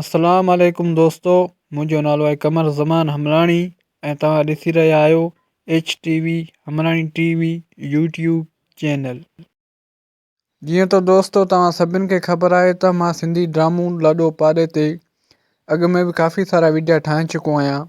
السلام عليڪم دوستو منهنجو نالو آهي قمر زمان همراڻي ۽ توهان ڏسي رهيا آهيو ايڇ ٽي وي همراڻي ٽي وي يوٽيوب چينل جيئن ته دوستو توهان سڀن کي خبر آهي ته مان سنڌي ڊرامو لاڏو پاڏي تي اڳ ۾ به ڪافي سارا وڊيا ٺاهي چڪو آهيان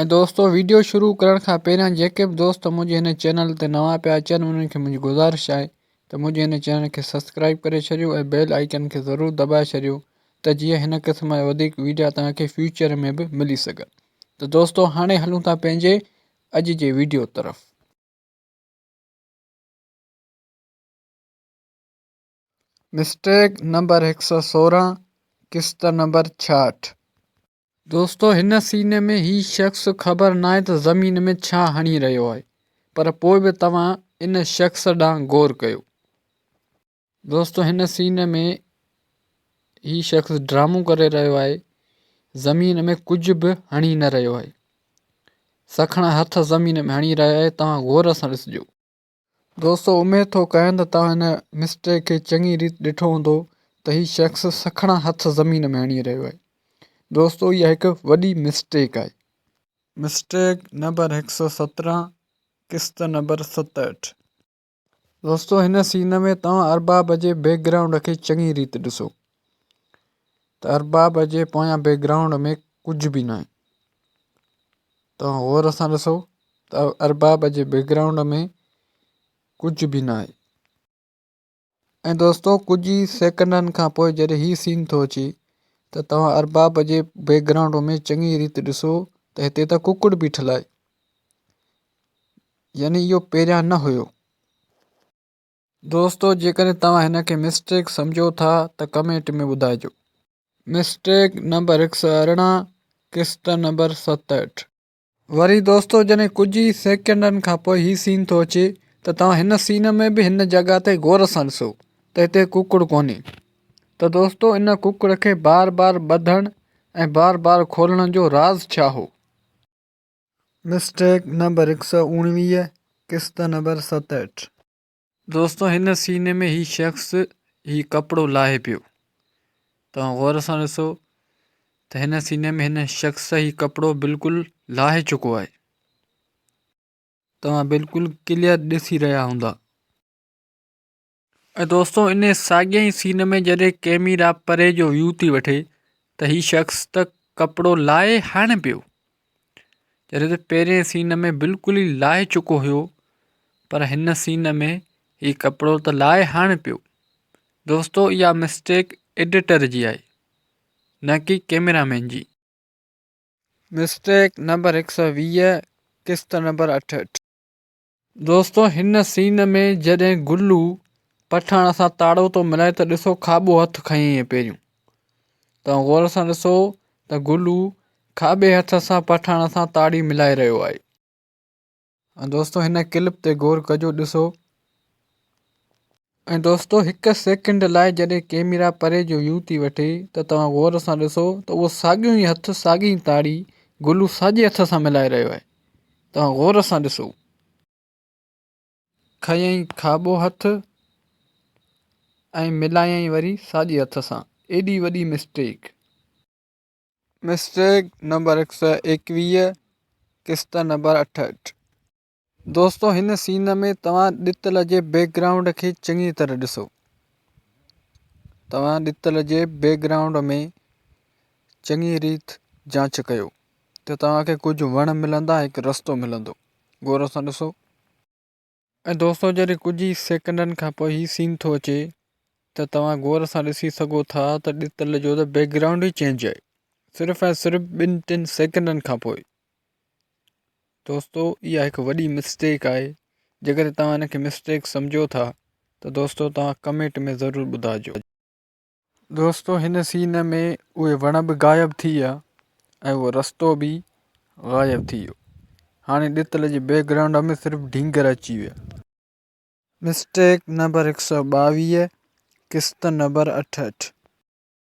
۽ دوستو ويڊيو شروع ڪرڻ کان پهريان جيڪي به دوست منهنجي هن چينل تي نوان پيا اچن انهن کي منهنجي گذارش آهي ته منهنجي هن چينل کي سبسڪرائيب ڪري ڇڏيو ۽ بيل آئيڪن کي ضرور دٻائي ڇڏيو ته جيئن هن قسم جا وڌيڪ ويڊيا توهان کي فيوچر ۾ به ملي سگهن ته دوستو هاڻي هلون ٿا پنهنجي اڄ جي ويڊيو طرف. مسٽيڪ نمبر هڪ سؤ سورهن قسط نمبر ڇاهٺ. دوستو هن سين ۾ هي شخص خبر ناهي ته زمين ۾ ڇا هڻي رهيو آهي پر پوء به توهان ان شخص ڏانهن غور ڪيو. دوستو هن سين ۾ هي شخص ڊرامو ڪري رهيو آهي زمين ۾ ڪجهه به هڻي نه رهيو آهي سکڻا هٿ زمين ۾ هڻي رهيو آهي توهان غور سان ڏسجو. دوستو اميد ٿو ڪريان ته توهان هن مسٽري کي چڱي ريت ڏٺو هوندو ته هي شخص سکڻا هٿ زمين ۾ هڻي رهيو آهي دوستو اها هڪ وڏي مسٽيڪ آهي. مسٽيڪ نمبر هڪ سؤ سترهن قسط نمبر ستهٺ. دوستو هن سين ۾ توهان ارباب جي بيڪ گرائونڊ کي چڱي ريت ڏسو ته ارباب جي پويان بيڪ گرائونڊ ۾ ڪجهه به ناهي. توهان غور سان ڏسو ته ارباب جي بيڪ گرائونڊ ۾ ڪجهه به ناهي. ۽ دوستو ڪجهه ئي سيڪنڊن کان پوء جڏهن هي سين ٿو اچي ته توهان ارباب جي بيڪ گرائونڊ ۾ چڱي ريت ڏسو ته هتي ته ڪڪڙ بيٺل آهي. يعني اهو پهريان نه هيو. دوستو جيڪڏهن توهان هن کي مسٽيڪ سمجهو ٿا ته ڪمينٽ ۾ ٻڌائجو. مسٽيڪ نمبر هڪ سؤ ارڙهن قسط نمبر ستهٺ. وري دوستو جڏهن ڪجهه ئي سيڪنڊن کان پوء هي سين ٿو اچي ته توهان هن سين ۾ به هن جڳهه تي غور سان ڏسو ته هتي ڪڪڙ ڪونهي ته دوستو ان ڪڪڙ کي بار بار ٻڌڻ ۽ بار بار کولڻ جو راز ڇا هو؟ مسٽيڪ نمبر هڪ سؤ اوڻويهه قسط نمبر ستهٺ. دوستو هن سين ۾ هي شخص هي ڪپڙو لاهي پيو توهان غور سان ڏسو ته هن سين ۾ هن شخص هي ڪپڙو بلڪل لاهي چڪو آهي توهان بلڪل ڪليئر ڏسي رهيا هوندا. ۽ دوستو انهي ساڳئي ئي سين ۾ جڏهن ڪيميرا پري جو ويو ٿي وٺي ته هي شخص ته ڪپڙو لاهي هڻي پيو جڏهن ته پهرين سين ۾ بلڪل ئي لاهي چڪو هيو پر هن سين ۾ هي ڪپڙو ته لاهي هڻي پيو دوستو اها مسٽيڪ ايڊيٽر جي آهي نه ڪي ڪيميرا مين جي. مسٽيڪ نمبر هڪ سؤ ويهه قسط نمبر اٺهٺ. دوستو هن سين ۾ جڏهن گلو پٺاڻ سان تاڙو ٿو ملائي ته ڏسو کاٻو هٿ کنئي ائين پهريون توهان غور سان ڏسو ته گلو کاٻي هٿ سان پٺاڻ سان تاڙي ملائي رهيو آهي ۽ دوستو هن ڪلپ تي غور ڪجو ڏسو ۽ دوستو هڪ سيڪنڊ لاء جڏهن ڪيميرا پري جو ويو ٿي وٺي ته توهان غور سان ڏسو ته اهو ساڳيون ئي هٿ ساڳي ئي تاڙي گلو ساڄي هٿ سان ملائي رهيو آهي توهان غور سان ڏسو کنيائين کاٻو هٿ ۽ ملايائين وري ساڄي هٿ سان ايڏي وڏي مسٽيڪ. مسٽيڪ نمبر هڪ سئو ايڪويهه قسط نمبر اٺهٺ. دوستو هن سين ۾ توهان ڏتل جي بيڪ گرائونڊ کي چڱي طرح ڏسو توهان ڏتل جي بيڪ گرائونڊ ۾ چڱي ريت جانچ ڪيو ته توهان کي ڪجهه وڻ ملندا هڪ رستو ملندو غور سان ڏسو ۽ دوستو جڏهن ڪجهه ئي سيڪنڊن کان پوء هي سين ٿو اچي ته توهان غور سان ڏسي سگهو ٿا ته ڏتل جو ته بيڪ گرائونڊ ئي چينج آهي صرف ۽ صرف ٻن ٽن سيڪنڊن کان پوء دوستو اها هڪ وڏي مسٽيڪ آهي جيڪڏهن توهان ان کي مسٽيڪ سمجهو ٿا ته دوستو توهان ڪمينٽ ۾ ضرور ٻڌائجو. دوستو هن سين ۾ اهي وڻ به غائب ٿي ويا ۽ اهو رستو به غائب ٿي ويو هاڻي ڏتل جي بيڪ گرائونڊ ۾ صرف ڍينگر اچي ويا. مسٽيڪ نمبر هڪ سؤ ٻاويهه قسط نمبر اٺهٺ.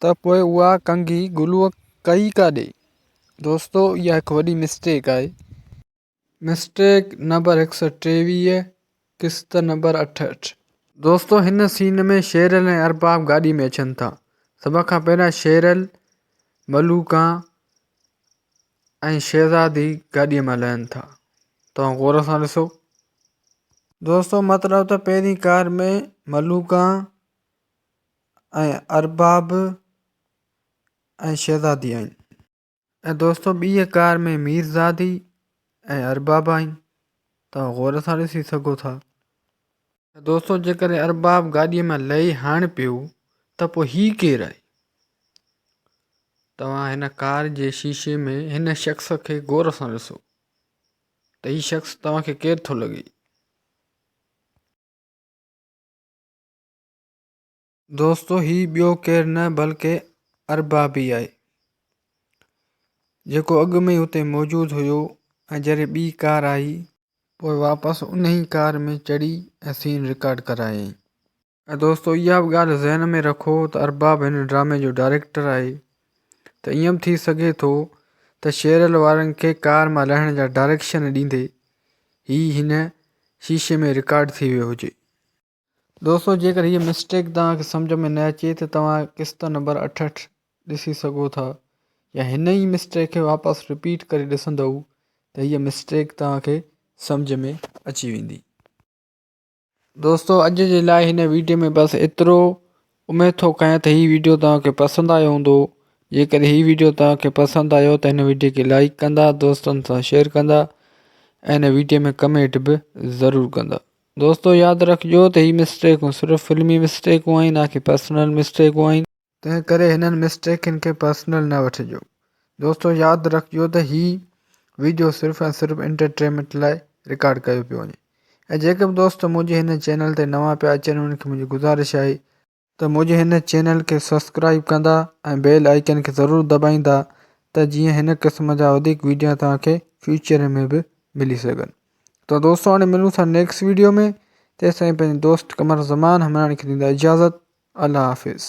ته پوء اها ڪنگهي گلوء ڪئي ڪاڏي؟ دوستو اها هڪ وڏي مسٽيڪ آهي. مسٽيڪ نمبر هڪ سؤ ٽيويهه قسط نمبر اٺهٺ. دوستو هن سين ۾ شيرل ۽ ارباب گاڏي ۾ اچن ٿا سڀ کان پهريان شيرل، ملوڪان ۽ شهزادي گاڏي مان لهن ٿا توهان غور سان ڏسو. دوستو مطلب ته پهرين ڪار ۾ ملوڪان، ۽ ارباب ۽ شهزادي آهن. ۽ دوستو ٻيء ڪار ۾ ميرزادي ۽ ارباب آهن توهان غور سان ڏسي سگهو ٿا. ۽ دوستو جيڪڏهن ارباب گاڏيء مان لهي هاڻ پيو ته پوء هي ڪير آهي؟ توهان هن ڪار جي شيشي ۾ هن شخص کي غور سان ڏسو ته هي شخص توهان کي ڪير ٿو لڳي؟ دوستو هي ٻيو ڪير نه بلڪه اربابي آهي جيڪو اڳ ۾ ئي اتي موجود هيو ۽ جڏهن ٻي ڪار آئي پوء واپس انهي ڪار ۾ چڙهي ۽ سين رڪارڊ ڪرايائين. ۽ دوستو اها به ڳالهه ذهن ۾ رکو ته ارباب هن ڊرامي جو ڊائريڪٽر آهي ته ائين به ٿي سگهي ٿو ته شيرل وارن کي ڪار مان لهڻ جا ڊائريڪشن ڏيندي هي هن شيشي ۾ رڪارڊ ٿي ويو هجي. دوستو جيڪر هيء مسٽيڪ توهان کي سمجهه ۾ نه اچي ته توهان قسط نمبر اٺ اٺ ڏسي سگهو ٿا يا هن ئي مسٽيڪ کي واپس رپيٽ ڪري ڏسندئو ته هيء مسٽيڪ توهان کي سمجهه ۾ اچي ويندي. دوستو اڄ جي لاء هن ويڊيو ۾ بس ايترو اميد ٿو ڪيان ته هي ويڊيو توهان کي پسند آيو هوندو جيڪر هي ويڊيو توهان کي پسند آيو ته هن ويڊيو کي لائيڪ ڪندا دوستن سان شيئر ڪندا ۽ هن ويڊيو ۾ ڪمينٽ به ضرور ڪندا دوستو ياد رکجو ته هي مسٽيڪون صرف فلمي مسٽيڪون آهن نه ڪي پرسنل مسٽيڪون آهن. تنهن ڪري هنن مسٽيڪن کي پرسنل نه وٺجو. دوستو ياد رکجو ته هي ويڊيو صرف ۽ صرف انٽرٽيمنٽ لاء رڪارڊ ڪيو پيو وڃي ۽ جيڪي به دوست منهنجي هن چينل تي نوان پيا اچن انهن کي منهنجي گذارش آهي ته ته منهنجي هن چينل کي سبسڪرائيب ڪندا ۽ بيل آئيڪن کي ضرور دٻائيندا ته جيئن هن قسم جا وڌيڪ ويڊيا توهان کي فيوچر ۾ به ملي سگهن ته دوستو هاڻي ملون ٿا نيڪسٽ ويڊيو ۾ تيسين پنهنجي دوست قمر زمان همراڻي کي ڏيندا اجازت الله حافظ.